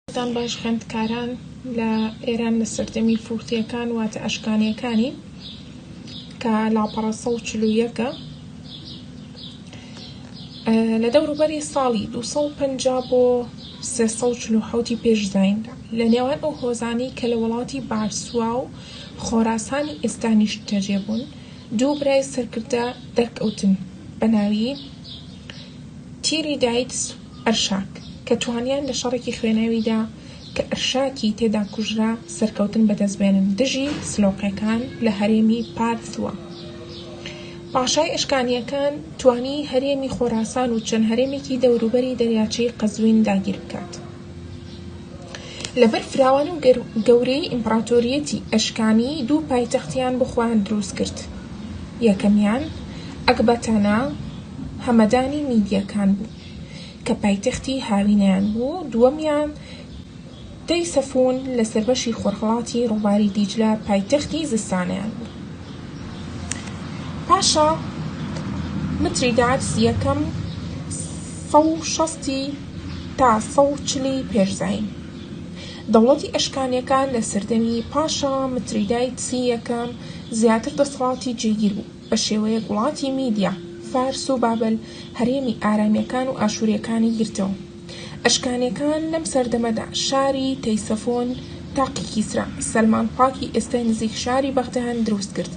دەستان باش خوێندکاران لە ئێران لە سەردەمی فورتیەکان واتە ئەشکانیەکانی کە لاپەڕە سە و چلو یەکە لە دەوروبەری ساڵی 250 بۆ 340 پێش زیندا لە نێوان ئەو هۆزانی کە لە وڵاتی بارسوا و خۆراسانی ئێستا نیشتەجێ بوون دوو برای سەرکردە دەرکەوتن بە ناوی، تیری دایتس و ئەرشاک، کە توانیان لە شەڕێکی خوێناویدا کە ئەرشاکی تێدا کوژرا سەرکەوتن بەدەست بێنن دژی سلۆقیەکان لە هەرێمی پارثوە. پاشای ئەشکانیەکان توانی هەرێمی خۆراسان و چەند هەرێمێکی دەوروبەری دەریاچەی قەزوین داگیر بکات. لەبەر فراوانی و گەورەیی ئیمپڕاتۆرییەتی ئەشکانیی دوو پایتەختیان بۆ خۆیان دروست کرد، یەکەمیان ئەکباتانا، هەمەدانی میدییەکان بوو، کە پایتەختی هاوینەیان بوو، دووەمیان تەیسەفوون لەسەر بەشی خۆرهەڵاتی ڕووباری دیجلە پایتەختی زستانەیان بوو. پاشا میتریدات یەکەم سەد و شەست ی تا سەد و چل ی پێش زایین. دەوڵەتی ئەشکانیەکان لە سەردەمی پاشا متریدایتس ی یەکەم زیاتر دەسەڵاتی جێگیر بوو، بە شێوەیەک وڵاتی میدیا، فارس و بابل هەرێمی ئارامیەکان و ئاشوریەکانی گرتەوە. ئەشکانیەکان لەم سەردەمەدا شاری، تەیسەفۆن، تاقی کیسرا، سەلمانپاک ی ئێستای نزیک شاری بەغدەیان دروست کرد.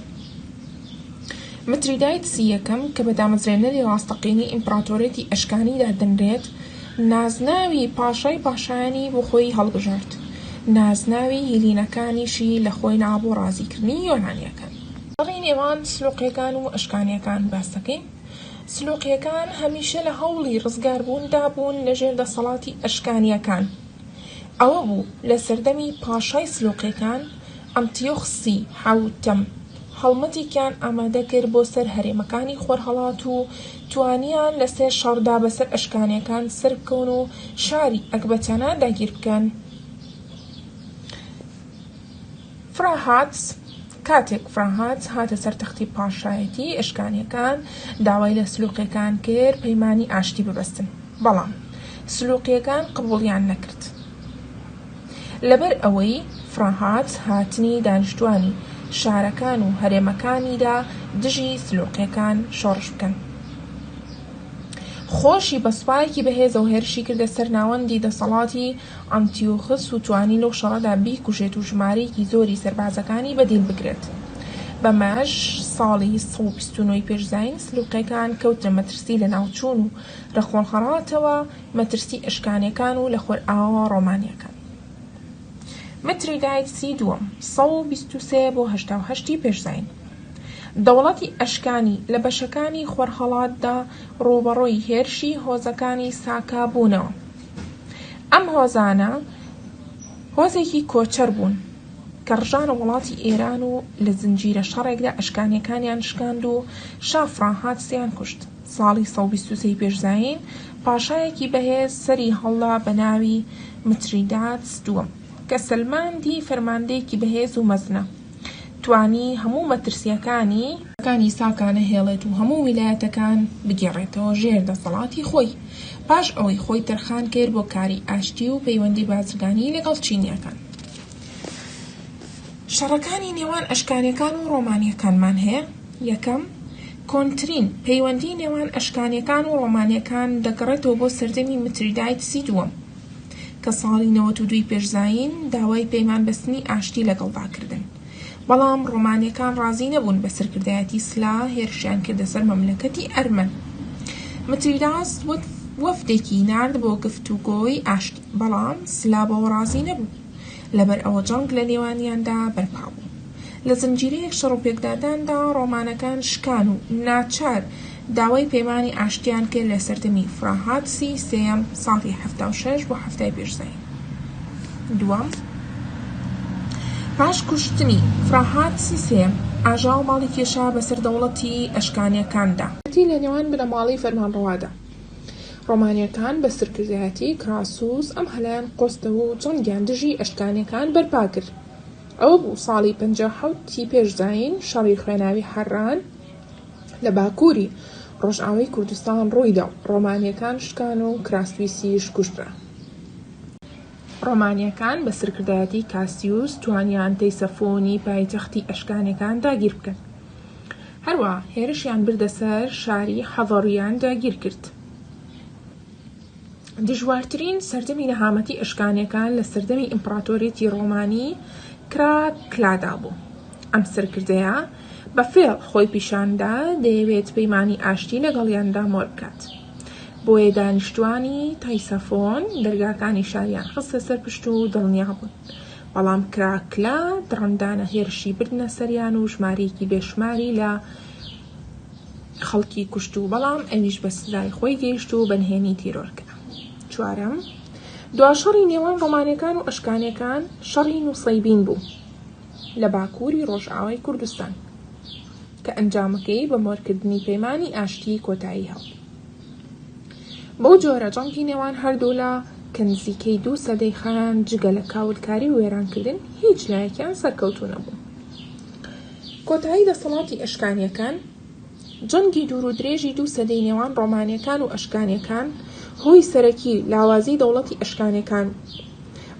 متریدایتسی یەکەم، کە بە دامەزرێنەری ڕاستەقینەی ئیمپراتۆریەتی ئەشکانی دادەنرێت، نازناوی پاشای پاشایانی بۆ خۆی هەڵبژارد، نازناوی هیلینەکانیشی لە خۆی نا بۆ ڕازیکردنی یۆنانییەکان. گەڕی نێوان سلوقییەکان و ئەشکانییەکان باس دەکەین. سلوقییەکان هەمیشە لە هەوڵی ڕزگاربووندا بوون لە ژێر دەسەڵاتی ئەشکانییەکان. ئەوە بوو لە سەردەمی پاشای سلوقییەکان ئەنتیۆخسی حەوتەم هەڵمەتێکیان ئامادە کرد بۆ سەر هەرێمەکانی خۆرهەڵات و توانیان لە سێ شەڕدا بەسەر ئەشکانیەکان سەربکەون و شاری ئەکبەتانا داگیر بکەن. فراهاتس کاتێک فراهاتس هاتە سەر تەختی پاشایەتی، ئەشکانیەکان داوای لە سلوقیەکان کرد پەیمانی ئاشتی ببەستن، بەڵام سلوقیەکان قبوڵیان نەکرد. لەبەر ئەوەی فڕاهات هاتنی دانیشتوانی شارەکان و هەرێمەکانیدا دژی سلۆقیەکان شۆڕش بکەن. خۆشی بە سوپایەکی بەهێزەوە هێرشی کردە سەر ناوەندی دەسەڵاتی ئەنتیۆخس و توانی لەو شەڕەدا بیکوژێت و ژمارەیەکی زۆری سەربازەکانی بە دیل بگرێت. بەمەش ساڵی سەد و بیست و نۆ ی پێش زایین سلۆقیەکان کەوتنە مەترسی لەناوچوون و رەقۆڵهەڕاتەوە مەترسی ئەشکانیەکان و لە خۆرئاواوە ڕۆمانیەکان متریدایتس ی دووەم سەد و بیست و سێ بۆ هەشتا و هەشت ی پێش زاین دەوڵەتی ئەشکانی لە بەشەکانی خۆرهەڵاتدا ڕووبەڕووی هێرشی هۆزەکانی ساکا بوونەوە ئەم هۆزانە هۆزێکی کۆچەر بوون کە ڕژانە وڵاتی ئێران و لە زنجیرە شەڕێکدا ئەشکانیەکانیان شکاند و شا فڕانهاتسیان کوشت. ساڵی سەد و بیست و سێ ی پێش زایین، پاشایەکی بەهێز سەری هەڵدا بە ناوی متریداتس دووەم، کە سەلماندی فەرماندەیەکی بەهێز و مەزنە، توانی هەموو مەترسییەکانی، کانی ساکا نەهێڵێت و هەموو ویلایەتەکان بگێڕێتەوە ژێر دەسەڵاتی خۆی، پاش ئەوەی خۆی تەرخان کرد بۆ کاری ئاشتی و پەیوەندی بازرگانیی لەگەڵ چینییەکان. شەڕەکانی نێوان ئەشکانیەکان و ڕۆمانیەکانمان هەیە، یەکەم، کۆنترین، پەیوەندی نێوان ئەشکانیەکان و ڕۆمانیەکان دەگەڕێتەوە بۆ سەردەمی متریدایتسی دووەم، کە ساڵی نەوەت و دووی پێش زایین داوای پەیمان بەستنی ئاشتی لەگەڵدا کردن، بەڵام ڕۆمانیەکان ڕازی نەبوون بە سەرکردایەتی سلا هێرشیان کردە سەر مەملەکەتی ئەرمەن. متریداس وەفدێکی نارد بۆ گفتوگۆی ئاشتی. بەڵام سلابەوە ڕازی نەبوو، لەبەر ئەوە جەنگ لە نێوانیاندا بەرپا بوو. لە زنجیرەیەک شەڕ و پێکداداندا ڕۆمانەکان شکان و ناچار داوای پەیمانی ئاشتیان کرد لە سەردەمی فراهاتسی سێیەم، ساڵی حەفتا و شەش بۆ حەفتای پێش زایین دووەم. پاش کوشتنی فراهاتسی سێیەم، ئاژاوە ماڵی کێشا بەسەر دەوڵەتی ئەشکانییەکاندا. ئەتیی لە نێوان بنەماڵەی فەرمانڕەوادا. ڕۆمانیەکان بە سرکردایەتی کراسوس ئەم هەلەیان قۆستەوە و جەنگیان دژی ئەشکانیەکان بەرپا کرد. ئەوە بوو ساڵی پەنجا و حەوت ی پێش زایین شەڕی خوێناوی حەران لە باکووری ڕۆژئاوای کوردستان ڕوویدا و ڕۆمانیەکان شکان و کراسویسیش کوژرا. ڕۆمانیەکان بە سرکردایەتی کاسیوس توانیان تەیسەفۆنی پایتەختی ئەشکانیەکان داگیر بکەن. هەروەها هێرشیان بردە سەر شاری حەڤەڕیان داگیر کرد. دژوارترین سەردەمی نەهامەتی ئەشکانیەکان لە سەردەمی ئیمپڕاتۆریەتی ڕۆمانی کراکلادا بوو. ئەم سەرکردەیە بە فێڵ خۆی پیشاندا دەیەوێت پەیمانی ئاشتی لەگەڵیان دامۆر بکات. بۆیە دانیشتوانی تایسەفۆن دەرگاکانی شاریان خستە سەر پشت و دڵنیا بوون. بەڵام کراکلا دڕندانە هێرشی بردنە سەریان و ژمارەیەکی بێشماری لە خەڵکی کوشت و بەڵام ئەویش بە سزای خۆی گەیشت و بەنهێنی تیرۆر کرا چوارەم دوا شەڕی نێوان ڕۆمانەکان و ئەشکانەکان شەڕی نووسەیبین بوو لە باکووری ڕۆژئاوای کوردستان کە ئەنجامەکەی بە مۆرکردنی پەیمانی ئاشتی کۆتایی هات بەو جۆرە جەنگی نێوان هەردوولا کە نزیکەی دوو سەدەی خایاند جگە لە کاولکاری و وێرانکردن هیچ لایەکیان سەرکەوتوو نەبوو کۆتایی دەسەڵاتی ئەشکانیەکان جەنگی دوور و درێژی دوو سەدەی نێوان ڕۆمانیەکان و ئەشکانیەکان هۆی سەرەکی لاوازی دەوڵەتی ئەشکانەکان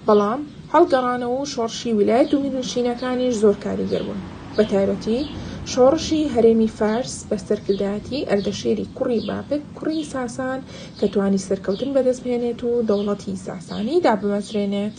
بەڵام هەڵگەڕانەوە و شۆڕشی ویلایەت و میرنشینەکانیش زۆر کاریگەر بوون، بەتایبەتی شۆڕشی هەرێمی فارس بە سەرکردایەتی ئەردەشیری کوڕی بابک کوڕی ساسان کە توانی سەرکەوتن بەدەست بهێنێت و دەوڵەتی ساسانی دابمەزرێنێت.